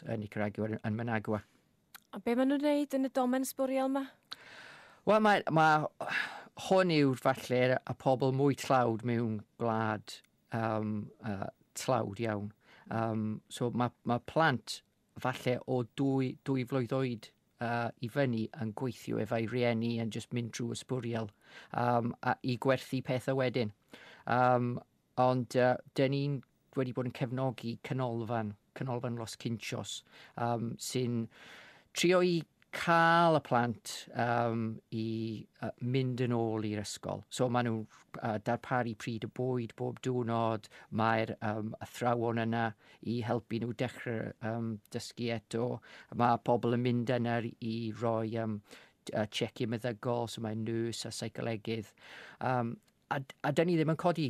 Yn Nicaragua, yn Managua. A be maen nhw'n gwneud yn y domen sbwriel yma? Wel, mae, mae hwn yw falle y pobl mwy tlawd mewn gwlad um, uh, tlawd iawn. Um, so mae, mae plant falle o dwy, dwy flwydd oed uh, i fyny yn gweithio efo'i rieni yn just mynd drwy ysbwriel um, a, i gwerthu pethau wedyn. Um, ond uh, dyn ni'n Dwi wedi bod yn cefnogi canolfan, canolfan Los Cinchos, um, sy'n trio i cael y plant um, i uh, mynd yn ôl i'r ysgol. So maen nhw'n uh, darparu pryd y bwyd bob diwrnod, mae'r um, athrawon yna i helpu nhw dechrau um, dysgu eto. Mae pobl yn mynd yna i roi um, uh, check-in meddygol, so mae nys a seicolegydd. Um, A, a dyn ni ddim yn codi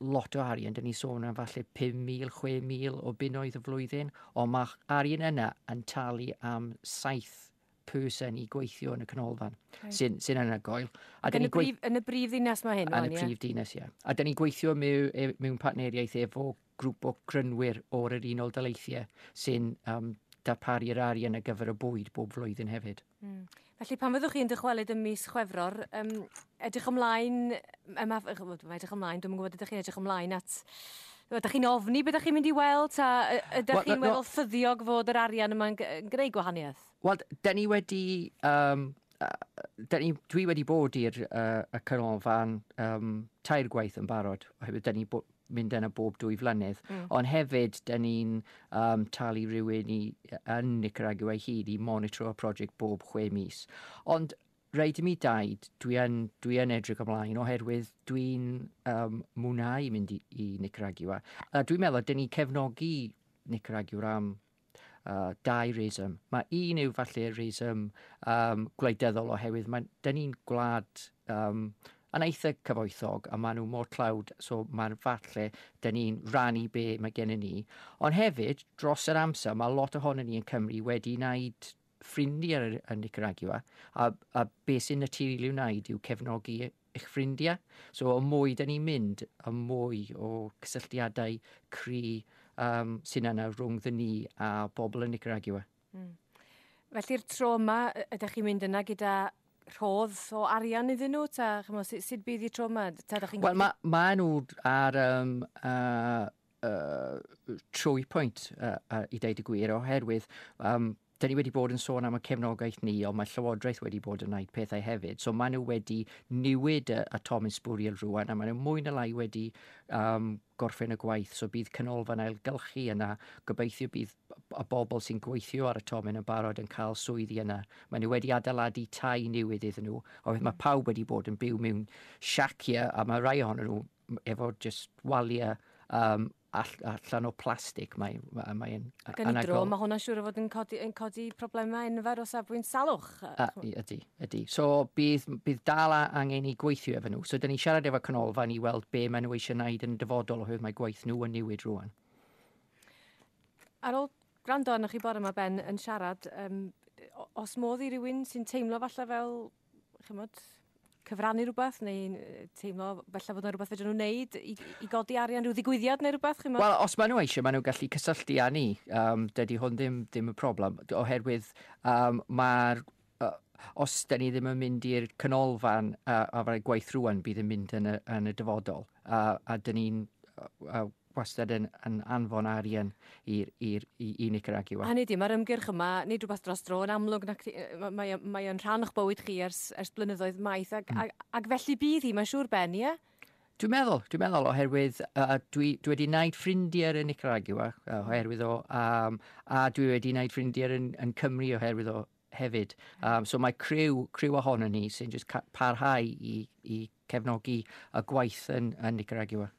lot o arian, dyn ni'n sôn am falle 5,000, 6,000 o bunnoedd y flwyddyn, ond mae arian yna yn talu am saith person i gweithio yn y canolfan, okay. sy'n sy anhygoel. A yn, y brif, yn y brif ddinas mae hyn, Yn y prif ddinas, ie. Yeah. A dyn ni'n gweithio mewn, e, mewn partneriaeth efo grŵp o grynwyr o'r yr Unol Daleithiau sy'n um, darparu'r arian ar gyfer y bwyd bob flwyddyn hefyd. Mm. Felly pan fyddwch chi'n dychwelyd ym mis Chwefror, um, edrych ymlaen, um, edrych ymlaen, dwi'n gwybod ydych chi'n edrych ymlaen at Ydych chi'n ofni beth ydych chi'n mynd i weld? Ta ydych well, chi'n no, meddwl ffyddiog fod yr arian yma'n gwneud gwahaniaeth? Wel, da ni wedi... Um, da ni, dwi wedi bod i'r uh, canolfan um, tair gwaith yn barod, oherwydd da ni bod mynd yna bob dwy flynedd. Mm. Ond hefyd, da ni'n um, talu rhywun i, yn Nicaragua i hyd i monitro y prosiect bob chwe mis. Ond rhaid i mi daid, dwi yn, dwi yn edrych ymlaen oherwydd dwi'n um, mwynhau mynd i, i Nicaragua. A dwi'n meddwl, dyn ni cefnogi Nicaragua am uh, dau reswm. Mae un yw falle reswm um, gwleidyddol oherwydd mae, dyn ni'n gwlad um, yn eitha cyfoethog a maen nhw mor tlawd, so mae'n falle dyn ni'n rannu be mae gennym ni. Ond hefyd, dros yr amser, mae lot ohono ni yn Cymru wedi wneud ffrindiau yn Nicaragua a, a beth sy'n naturiol i'w wneud yw cefnogi eich ffrindiau. So y mwy da ni'n mynd, y mwy o cysylltiadau cri um, sy'n yna rhwng dda ni a bobl yn Nicaragua. Mm. Felly'r tro yma, ydych chi'n mynd yna gyda rhodd o arian iddyn nhw? Ta, chymo, sut, sut bydd y tro yma? Ta, chi'n... Wel, mae ma nhw ar um, uh, uh, trwy pwynt uh, uh, i ddeud y gwir, oherwydd um, Dan ni wedi bod yn sôn am y cefnogaeth ni, ond mae Llywodraeth wedi bod yn wneud pethau hefyd. So maen nhw wedi newid y, y Tom Sbwriel rwan, a maen nhw mwy na lai wedi um, gorffen y gwaith. So bydd canolfan ailgylchu yna. Gobeithio bydd y bobl sy'n gweithio ar y tomen yn barod yn cael swyddi yna. Maen nhw wedi adeiladu tai newydd iddyn nhw, oherwydd mae pawb wedi bod yn byw mewn siaciau, a mae rhai ohonyn nhw efo just waliau um, allan o plastig. Mae, mae, mae yn Ac yn anagol. dro, mae hwnna'n siŵr o fod yn codi, yn codi problemau enfawr o safbwynt salwch. A, ydy, ydy. So bydd, bydd dal angen i gweithio efo nhw. So dyn ni'n siarad efo canolfan i weld be maen nhw eisiau wneud yn dyfodol oherwydd mae gwaith nhw yn newid rwan. Ar ôl gwrando arnoch chi bore yma, Ben, yn siarad, um, os modd i rywun sy'n teimlo falle fel chymod, cyfrannu rhywbeth neu teimlo felly fod yna rhywbeth fedrwn nhw'n wneud i, i godi arian rhyw ddigwyddiad neu rhywbeth? Chymod? Wel, os maen nhw eisiau, maen nhw'n gallu cysylltu â ni. Um, dydy hwn ddim, ddim y problem, oherwydd um, mae'r uh, os da ni ddim yn mynd i'r canolfan uh, a fydde gwaith rwan bydd yn mynd yn y, yn y dyfodol. Uh, a dyn ni'n uh, wastad yn yn anfon arian i'r i'r i i Nicaragua. Hynny ydi, mae'r ymgyrch yma, nid rhywbeth dros dro, yn amlwg nac ti- yy ma- mae o mae o'n rhan o'ch bywyd chi ers ers blynyddoedd maith ac ac ac felly bydd hi, mae'n siŵr Ben, ie? Dwi'n meddwl, dwi'n meddwl oherwydd uh, dwi, dwi wedi wneud ffrindiau yn Nicaragua uh, oherwydd o, um, a dwi wedi wneud ffrindiau yn, yn Cymru oherwydd o hefyd. Um, so mae criw, criw ohono ni sy'n just ca- parhau i, i cefnogi y gwaith yn, yn Nicaragua.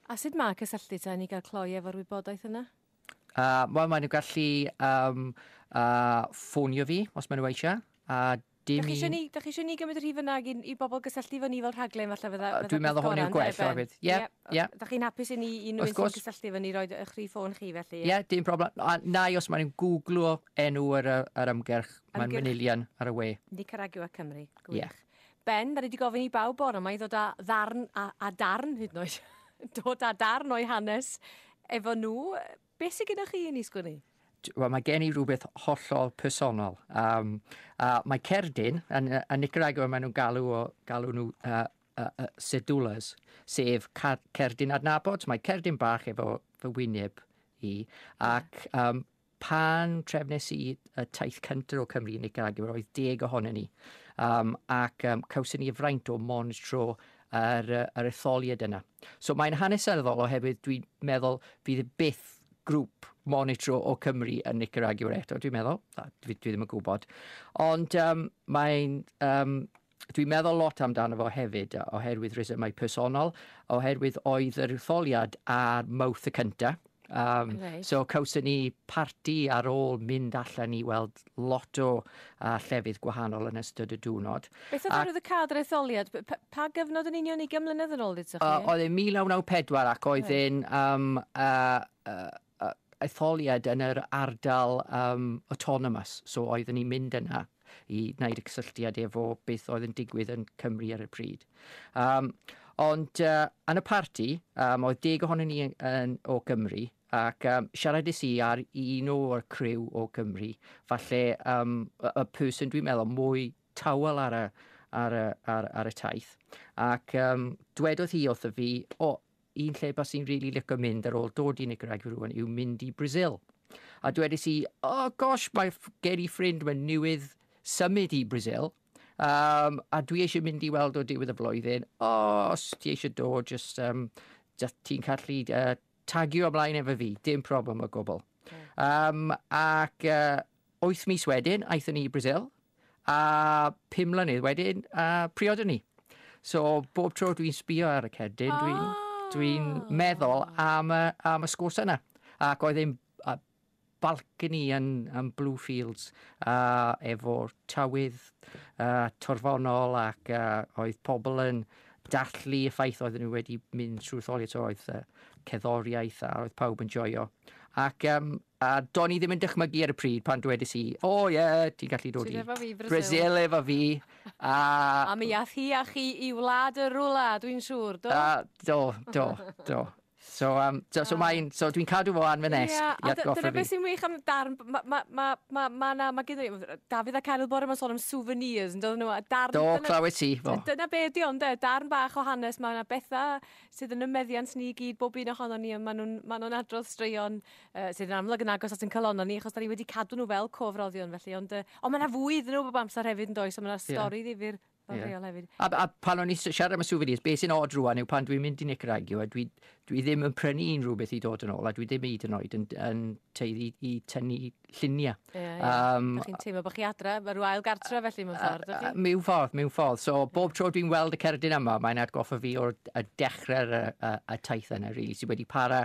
A sut mae cysylltu ta ni gael cloi efo'r wybodaeth yna? Uh, Wel, maen nhw gallu um, uh, ffonio fi os maen nhw eisiau. A dim i... Ni, da chi eisiau ni gymryd y rhif yna i, i bobl gysylltu fo ni fel rhaglen falle fydda... Uh, Dwi'n meddwl hwn yw'r gwell o hefyd. Ie, ie. Da chi'n hapus i ni i nhw'n sy'n cysylltu fo ni roi eich rhif ffôn chi felly? Ie, yeah, dim problem. A na i os maen nhw'n googlo enw ar, ar ymgyrch, mae'n manylion ar y we. Nicaragua Cymru, gwych. Yeah. Ben, mae rhaid i gofyn i bawb bore yma i ddod â ddarn, a, a darn hyd yn oed, dod â darn o'i hanes efo nhw. Be sy'n gyda chi i ni sgwini? Wel, mae gen i rhywbeth hollol personol. Um, a mae cerdyn, yn, yn Nicaragua maen nhw'n galw, o, galw nhw uh, uh, uh, sedulas, sef cerdyn adnabod. Mae cerdyn bach efo fy wyneb i, ac um, Pan trefnes i y taith cyntaf o Cymru i Nicaragua, roedd deg ohono ni, um, ac um, cawson ni y fraint o monitro yr, yr etholiad yna. So mae'n hanesyddol oherwydd dwi'n meddwl fydd byth grŵp monitro o Cymru yn Nicaragua eto, dwi'n meddwl. Dwi, dwi ddim yn gwybod. Ond um, mae'n um, Dwi'n meddwl lot amdano fo hefyd, oherwydd rhesymau personol, oherwydd oedd yr etholiad ar Mowth y cynta. Um, right. So cawson ni parti ar ôl mynd allan i weld lot o uh, llefydd gwahanol yn ystod y diwrnod. Beth oedd arwydd y cadr etholiad? Pa, pa gyfnod yn union i gymlynedd yn ôl ddydych chi? Uh, oedd e'n 1994 ac oedd e'n right. um, uh, uh, etholiad yn yr ardal um, autonomous, so oeddwn ni'n mynd yna i wneud y cysylltiad efo beth oedd yn digwydd yn Cymru ar y pryd. Um, ond uh, yn y parti, um, oedd deg ohonyn ni yn, yn, o Gymru, ac um, siaradus i ar un o'r criw o Gymru, falle um, y, y person dwi'n meddwl mwy tawel ar y, ar y, ar, ar y taith. Ac um, dwedodd hi wrth y fi, o, oh, un lle bas i'n rili licio mynd ar ôl dod i Nicaragua rwan yw mynd i Brazil. A dwedais i, oh gosh, mae gen i ffrind, mae newydd symud i Brazil, um, a dwi eisiau mynd i weld o diwedd y flwyddyn, oh, os ti eisiau dod, just, um, just ti'n callu uh, tagio ymlaen efo fi, dim problem o gwbl. Um, ac uh, Wyth mis wedyn aethon ni i Brasil a pum mlynedd wedyn a priodon ni. So bob tro dwi'n sbio ar y cerdyn oh. dwi'n dwi meddwl am y, am y sgwrs yna. Ac oedd e'n balcony yn, yn Bluefields a efo tywydd uh, torfonol ac uh, oedd pobl yn dallu y ffaith oedden nhw wedi mynd trwy tholiad oedd uh, ceddoriaeth a oedd pawb yn joio. Ac um, A do'n i ddim yn dychmygu ar y pryd pan dwedais i, O ie, ti'n gallu dod i... Ti'n efo fi i Brasil. Brasil efo fi, a... A mi ath hi a chi i Wlad y Rwla, dwi'n siŵr, do? A, do, do, do. So, um, so, so, mae'n, so dwi'n cadw fo an fy nesg yeah, i atgoffa fi. Dyna beth sy'n wych am darn, mae ma, ma, ma, ma, na, ma gyda ni, Dafydd a Caryl bore mae'n sôn am souvenirs, yn dod nhw, a darn... Do, dyna, clywed ti, fo. Dyna be ydi ond, darn bach o hanes, mae yna bethau sydd yn y meddiant ni i gyd, bob un ohono ni, ond maen nhw'n ma nhw adrodd straeon uh, sydd yn amlwg yn agos at yn calonau ni, achos da ni wedi cadw nhw fel cofroddion felly, ond, uh, ond mae yna fwy iddyn nhw bob amser hefyd yn does, so mae yna stori yeah. ddifur Yeah. Hefyd. A, a pan o'n i siarad am y souvenirs, beth sy'n od rwan yw pan dwi'n mynd i Nick Ragio, a dwi, dwi ddim yn prynu unrhyw beth i dod yn ôl, a dwi ddim hyd yn oed yn, yn teiddi i tynnu lluniau. Ie, ie. Um, Dych chi'n teimlo bod chi adre, mae rhyw ail gartre felly mewn ffordd, ydych chi? Mewn ffordd, mewn ffordd. So, bob tro dwi'n weld y cerdyn yma, mae'n atgoffa fi o'r dechrau'r y, y, y taith yna, really, sydd wedi para